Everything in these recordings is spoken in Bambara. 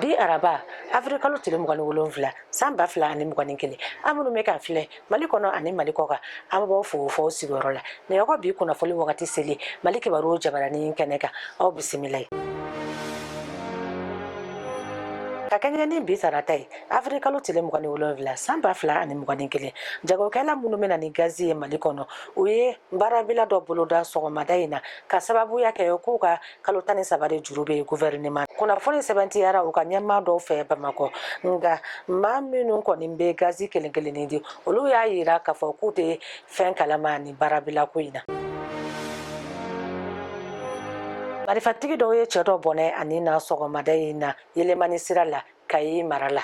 bi araba avril kalo tile mugan ni wolonfila san ba fila ani mugan ni kelen aw minnu bɛ k'an filɛ mali kɔnɔ ani mali kɔ kan an b'aw fo f'aw sigiyɔrɔ la nin yɔrɔ bi kunnafoli wagati selen mali kibaru jabarani kɛnɛ kan aw bisimila ye ka kɛɲɛ ni bi sarata ye avril kalo tile mugan ni wolonfila san ba fila ani mugan ni kelen jagokɛla minnu bɛ na ni gazi ye mali kɔnɔ u ye baarabila dɔ boloda sɔgɔmada in na ka sababuya kɛ k'u ka kalo tan ni saba de juru bɛ gouvernement kunnafoni sɛbɛntiyara u ka ɲɛmaa dɔw fɛ bamakɔ nka maa minnu kɔni bɛ gazi kelen kelen di olu y'a jira k'a fɔ k'u tɛ fɛn kalama nin baarabila ko in na marifatigi dɔw ye cɛ dɔ bɔnɛ a ni na sɔgɔmada in na yelimani sira la kayi mara la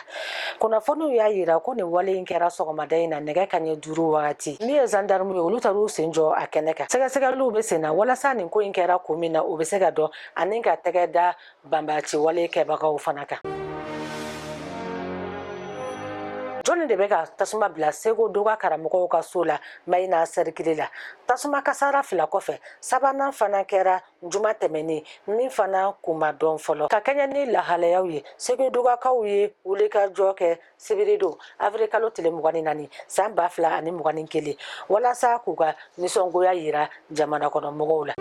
kunnafoniw y'a jira ko nin wale in kɛra sɔgɔmada in na nɛgɛ ka ɲɛ duuru wagati minnu ye zandarmuw ye olu taar'u sen jɔ a kɛnɛ kan sɛgɛsɛgɛliw bɛ senna walasa nin ko in kɛra kun min na o bɛ se ka dɔn ani ka tɛgɛ da banbaanci wale kɛbagaw fana kan jɔnni de bɛ ka tasuma bila seko doga karamɔgɔw ka so la mayina sɛrikili la tasuma kasara fila kɔfɛ sabanan fana kɛra juma tɛmɛnen min fana kun ma dɔn fɔlɔ ka kɛɲɛ ni lahalayaw ye segudugakaw ye wulikajɔ kɛ sibiri don avril kalo tile mugan ni naani san ba fila ani mugan ni kelen walasa k'u ka nisɔngoya yira jamana kɔnɔ mɔgɔw la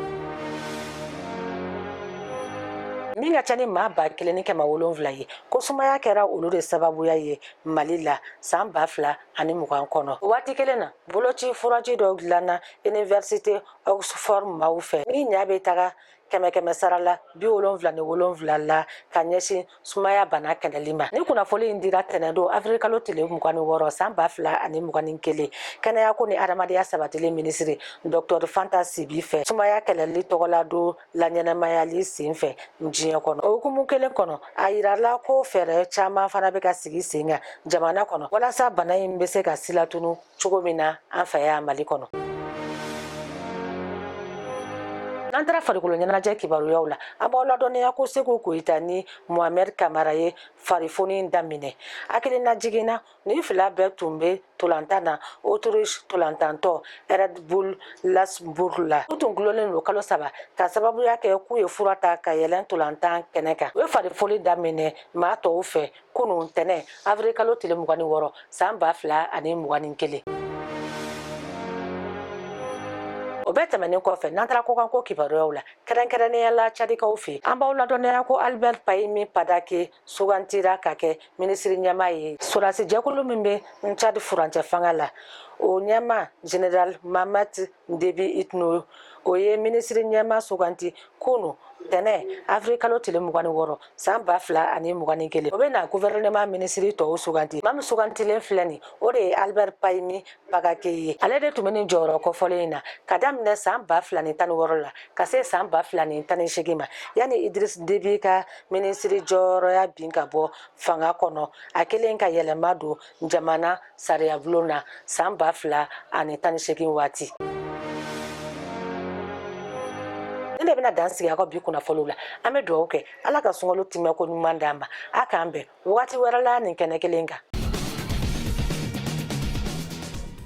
min ka ca ni maa ba kelen ni kɛmɛ wolonwula ye ko sumaya kɛra olu de sababuya ye mali la san ba fila ani mugan kɔnɔ waati kelen na boloci furaji dɔ dilanna iniversite oxford maaw fɛ min ɲa bɛ taga kɛmɛ kɛmɛ sara la bi wolonwula ni wolonwula la ka ɲɛsin sumaya bana kɛlɛli ma nin kunnafoni in dira tɛnɛn don avril kalo tile mugan ni wɔɔrɔ san ba fila ani mugan ni kelen kɛnɛya ko ni hadamadenya sabatili minisiri docteur fanta sibi fɛ sumaya kɛlɛli tɔgɔladon laɲɛnamayali sen fɛ diɲɛ kɔnɔ hukumu kelen kɔnɔ a jirala ko fɛɛrɛ caman fana bɛ ka sigi sen kan jamana kɔnɔ walasa bana in bɛ se ka silatunu cogo min na an fɛ yan mali kɔnɔ n'an taara farikolo ɲɛnajɛ kibaruyaw la an b'aw ladɔnniya ko seku koyita ni mohamɛd kamara ye farifoni daminɛ hakililajigin na nin fila bɛɛ tun bɛ tolantan na autriche tolantantɔn red bull lasbourg la u tun gulonnen don kalo saba ka sababuya kɛ k'u ye fura ta ka yɛlɛn tolantan kɛnɛ kan u ye farifoni daminɛ maa tɔw fɛ kunun ntɛnɛn avril kalo tile mugan ni wɔɔrɔ san ba fila ani mugan ni kelen o bɛɛ tɛmɛnen kɔfɛ n'an taara kɔkan ko kibaruyaw la kɛrɛnkɛrɛnnenya la cadikaw fɛ an b'aw ladɔnniya ko albert pahimi padake sugantira ka kɛ minisiri ɲɛmaa ye sɔrɔdasi jɛkulu min bɛ cadi furancɛ fanga la o ɲɛmaa general mahamat Debi Itno o ye minisiri ɲɛma suganti kunun tɛnɛn awirili kalo tile mugan ni wɔɔrɔ san ba fila ani mugan ni kelen o bɛ na gɔfɛrɛnaman minisiri tɔw suganti maa sugantilen filɛ nin o de ye Albert Pahimi Padacké ye ale de tun bɛ nin jɔyɔrɔ kɔfɔlen in na ka daminɛ san ba fila ni tan ni wɔɔrɔ la ka se san ba fila ni tan ni segin ma yanni Idrisi Debi ka minisiri jɔyɔrɔya bin ka bɔ fanga kɔnɔ a kɛlen ka yɛlɛma don jamana sariyabulon na san ba fila ani tan ni segin waati nin de bɛna dan sigi aw ka bi kunnafoniw la an bɛ dugawu kɛ ala ka sunkalo timɛ ko ɲuman d'an ma a k'an bɛn wagati wɛrɛ la nin kɛnɛ kelen kan